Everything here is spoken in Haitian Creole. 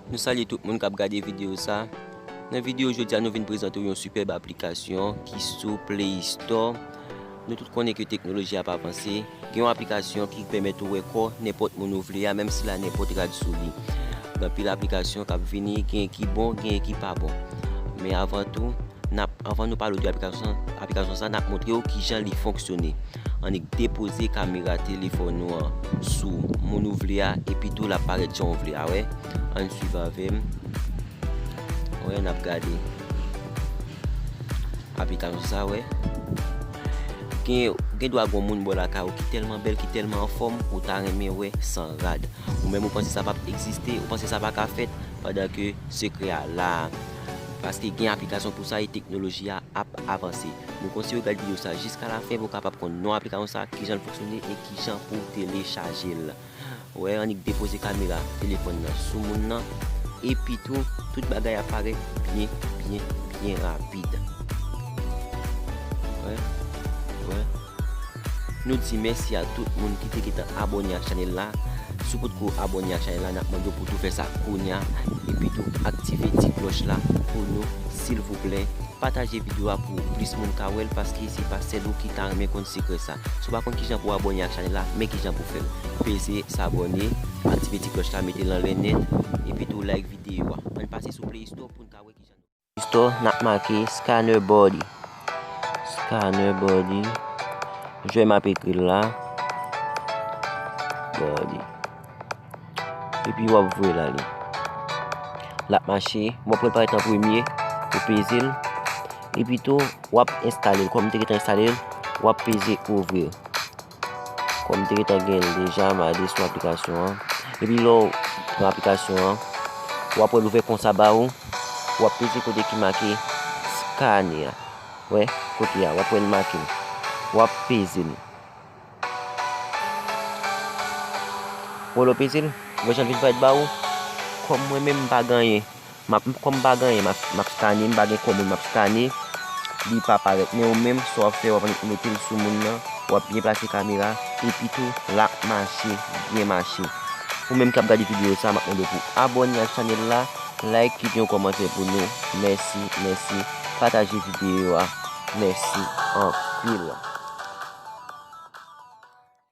Nou salye tout moun kap gade video sa. Nan video jodi a nou vin prezante w yon sipèb aplikasyon ki sou play store. Nou tout konnen ke teknoloji ap avanse. Gen yon aplikasyon ki pèmèt ou wè kò nenpòt moun ou vle a menm si la nenpòt rad sou li. Gen anpil aplikasyon kap vini, gen ki bon, gen ki pa bon. Men avan tou, nap avan nou pale w de aplikasyon sa nap montre w kijan li fonksyone. Annik depoze kamera telefòn ou an sou moun ou vle a epi tou lap parèt jan ou vle a wè. Ann swiv avèm wè nap gade aplikasyon sa wè. Gen gen dwa gon moun bò lakay ou ki tèlman bèl ki tèlman anfòm ou ta renmen wè san rad. Ou menm ou panse sa pap egziste, ou panse sa pa ka fèt pandan ke sekrè a la a. Paske gen aplikasyon pou sa e teknoloji a ap avanse. Nou konseye w gad video sa jiska la fen pou w kapab konn non aplikayon sa, kijan l fonksyone e kijan pou w telechaje l. Wè annik depoze kamera telefòn nan sou moun nan epi tou tout bagay ap parèt byen byen byen rapid. Wè wè. Nou di mèsi a tout moun ki te gentan abòne ak chanèl la, si w potko abòne ak chanèl la nap mande w pou tou fè sa kounya epi tou aktive ti klòch la pou nou silvouplè, pataje video a pou plis moun ka wèl paske se pa sèl ou ki ta renmen konn sekrè sa, si w pa konn kijan pou w abòne ak chanèl la men kijan pou fèl, peze s'abonner, aktive ti klòch la metel anlè nèt epi tou like video a, ann pase sou playstore poun ka wè kijan nou. Istò nap make scanner body scanner body jwè map ekri la body epi wap vwe la li lap mache mwen pral pare tan premye pou peze l epi tou wap enstale l kòm te gentan enstale l wap peze ouvrir Kòm m te gentan gen l deja, m ale sou aplikasyon an. Epi lè w pran aplikasyon an, w ap wè l ouvè konsa ba ou. W ap peze kote ki make Skane a. Wè, kote a. W ap wè l make. W ap peze l. Wè lè w peze l, wè jan l vin parèt ba ou. Kòm mwen menm m pa ganyen, Map kom pa gen anyen map skane m pa gen komn map skane li pa paret men ou menm sa wap fe wap annik metel sou moun nan wap byen plase kamera epi tou lap mache byen mache ou menm kap gade video sa map mande pou abone ak chanel la like kite yon komante pou nou mèsi mèsi pataje video a mèsi anpil.